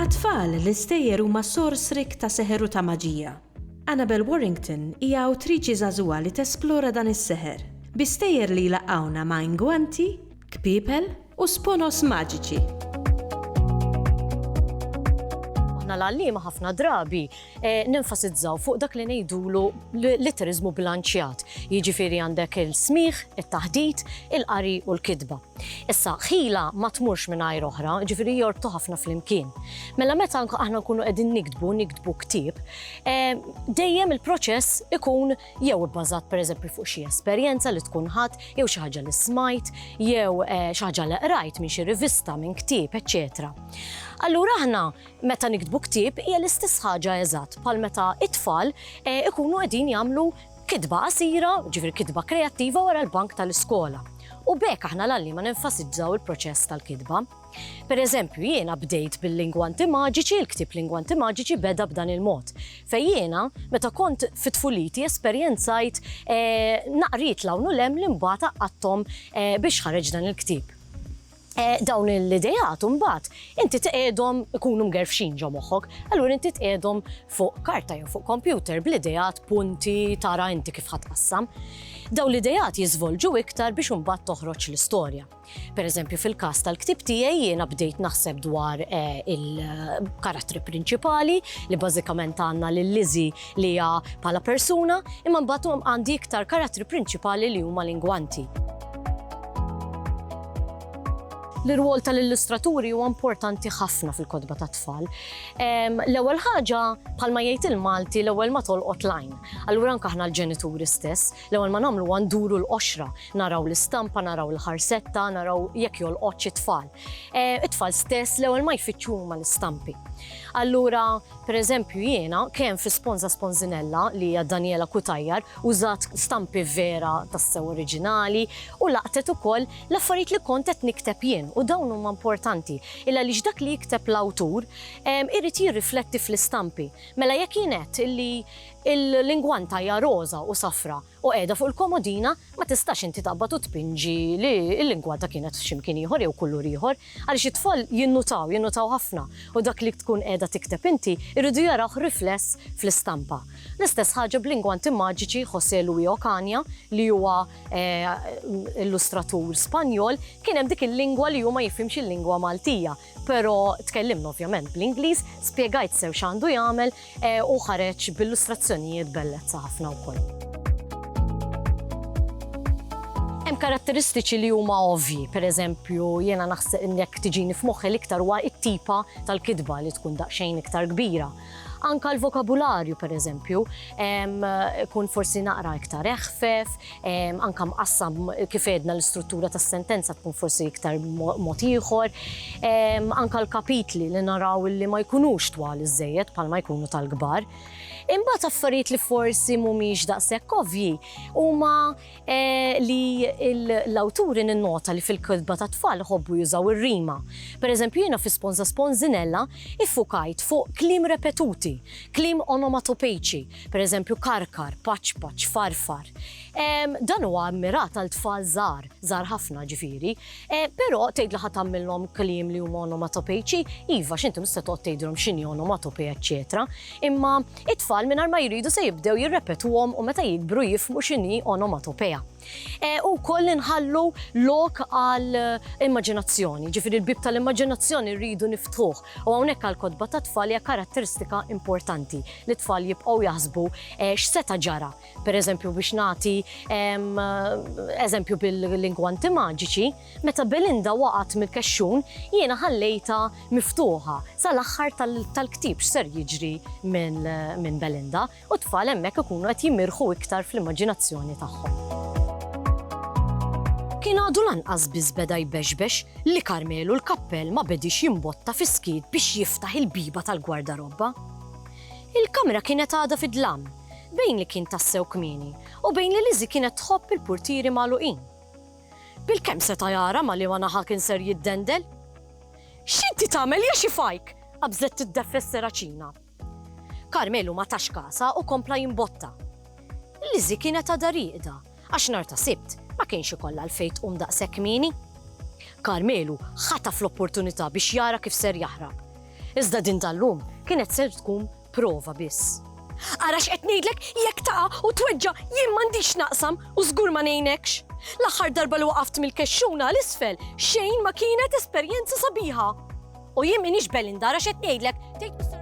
Għat-tfal, l-istejjer huma sors rikk ta' seħer u ta' maġija. Annabel Warrington hija awtriċi żagħżugħa li tesplora dan is-seħer, bi stejjer li jlaqqgħuna ma' ingwanti, kpiepel u sponos maġiċi. Aħna l-għalliema ħafna drabi nenfasizzaw fuq dak li ngħidulu litteriżmu bilanċjat. Jiġifieri għandek il-smigħ, it-taħdit, il-qari u l-kitba. Issa, ħila ma tmurx mingħajr oħra, jiġifieri jorbtu ħafna flimkien. Mela meta aħna nkunu qegħdin niktbu, niktbu ktieb, dejjem il-proċess ikun jew ibbażat pereżempju fuq xi esperjenza li tkun ħadt jew xi ħaġa li smajt jew xi ħaġa li qrajt minn xi rivista, minn ktieb, eċċetera. Allura aħna meta niktbu ktieb hija l-istess ħaġa eżatt bħal meta t-tfal ikunu qegħdin jagħmlu kitba qasira, ġifieri kitba kreattiva wara l-bank tal-iskola. U b'hekk aħna l-għalliema nenfasizzaw il-proċess tal-kitba. Per eżempju, jiena bdejt bil-lingwanti maġiċi, il-ktieb Lingwanti Maġiċi beda b'dan il-mod. Fejn jiena, meta kont fi tfuliti esperjenzajt naqriet 'l hawn u 'l hemm li mbagħad għaqqadthom biex ħareġ dan il-ktieb. Dawn l-ideat imbagħad inti tqiegħdhom ikunu mgerfxin ġo moħħok, allura inti tqiegħdhom fuq karta jew fuq kompjuter bl-ideat, punti, tara inti kif ħa tqassam. Dawn l-ideat jiżvolġu iktar biex imbagħad toħroġ l-istorja. Per eżempju, fil-każ tal-ktieb tiegħi jiena bdejt naħseb dwar eh, il-karattri prinċipali li bażikament għandna lil Lizzy li hija bħala persuna, imma mbagħad għandi iktar karattri prinċipali li huma lingwanti. L-irwol tal-illustraturi huwa importanti ħafna fil-kodba ta' tfal. L-ewwel ħaġa bħalma jgħid il-Malti l-ewwel ma tolqot lajn. Allura anke aħna l-ġenituri stess L-ewwel ma nagħmlu huwa nduru l-qoxra, naraw l-istampa, naraw il-ħarsetta, naraw jekk jolqotx it-tfal. It-tfal stess l-ewwel ma jfittxu huma l-istampi. Allura, per eżempju, jiena kemm fi Sponza Sponzinella, li hija Daniela Cutajar, użat stampi vera tassew oriġinali u laqtet ukoll l-affarijiet li kont qed nikteb jien u dawn huma importanti il-għaliex dak li jikteb l-awtur irid jirrifletti fl-istampi. Mela jekk jien għedt illi Il-lingwanta hija roża u safra u qiegħda fuq il-komodina, ma tistax inti taqbad u tpinġi li l-lingwanta kienet f'xi mkien ieħor jew kulur ieħor, għaliex it-tfal jinnutaw, jinnutaw ħafna u dak li tkun qiegħda tikteb inti jridu jarawh rifless fl-istampa. L-istess ħaġa b'lingwanti maġiċi José Luis Ocaña li huwa illustratur Spanjol, kien hemm dik il-lingwa li hu ma jifhimx il-lingwa Maltija, Però tkellimna ovvjament bl-Ingliż, spjegajt sew x'għandu jagħmel u ħareġ b'illustrazzjonijiet bellezza ħafna wkoll. Hemm karatteristiċi li huma ovvji, pereżempju jiena naħseb jekk tiġini f'moħħi l-iktar huwa t-tipa tal-kitba li tkun daqsxejn iktar kbira. Anka l-vokabularju, per eżempju, kun forsi naqra iktar eħfef, anka mqassam kif edna l-istruttura tas sentenza tkun forsi iktar mod ieħor, anka l-kapitli li naraw li ma jkunux twal iżejjed bħal ma jkunu tal-kbar. Imbagħad affarijiet li forsi mhumiex daqshekk ovvji huma li l-awturi ninnota li fil-kitba tat-tfal iħobbu jużaw ir-rima. Per eżempju, jiena fi Sponża Sponżinella iffukajt fuq kliem repetuti, kliem onomatopeiċi, per eżempju karkar, paċpaċ, farfar. Dan huwa mmirat għal tfal żgħar, żgħar ħafna ġifieri, Eh, però tgħid li ħadd tagħmilhom kliem li huma onomatopejċi, iva x'inti mhux se toqgħod tgħidilhom x'inhi onomatopej eċċetera. Imma it-tfal mingħajr ma jridu se jibdew jirrepetuhom u meta jikbru jifmu x'inhi onomatopeja. Eh, u koll inħallu lok għal eh, immaġinazzjoni, ġifiri l-bib tal-immaġinazzjoni rridu niftuħ u hawnhekk għal kodba ta' tfal hija karatteristika importanti li tfal jibqgħu jaħsbu x'seta ġara Pereżempju, biex nagħti eżempju bil-lingwanti maġiċi, meta Belinda waqgħet mill-kexxun, jiena ħallejtha miftuħa sal-aħħar tal-ktieb x'ser jiġri minn Belinda, u t-tfal hemmhekk ikunu qed jimirħu iktar fl-immaġinazzjoni tagħhom. Kien għadu lanqas biss beda jbexbex li Karmelu l-kappell ma bediex jimbotta fis-skiet biex jiftaħ il-bieba tal-gwardarobba. Il-kamra kienet għadha fid-dlam, bejn li kien tassew kmieni u bejn li Lizzie kienet tħobb il-purtieri magħluqin. Bilkemm seta' jara ma' liema naħa kien ser jiddendel. X'inti tagħmel ja xi fajk! qabżet tiddefres Seracina. Karmelu ma tax kasha u kompla jimbotta. Lizzie kienet għadha rieqda għax nhar ta' Sibt ma kienx ikollha għalfejn tqum daqshekk kmieni. Karmelu ħataf l-opportunità biex jara kif ser jaħrab. Iżda din tal-lum kienet ser tkun Prova biss. Ara x'qed ngħidlek, jekk taqa' u tweġġa' jien m'għandix naqsam u żgur ma ngħinekx. L-aħħar darba li waqaft mill-kexxuna 'l isfel, xejn ma kienet esperjenza sabiħa. U jien m'iniex Belinda ara x'qed ngħidlek, tgħid Mister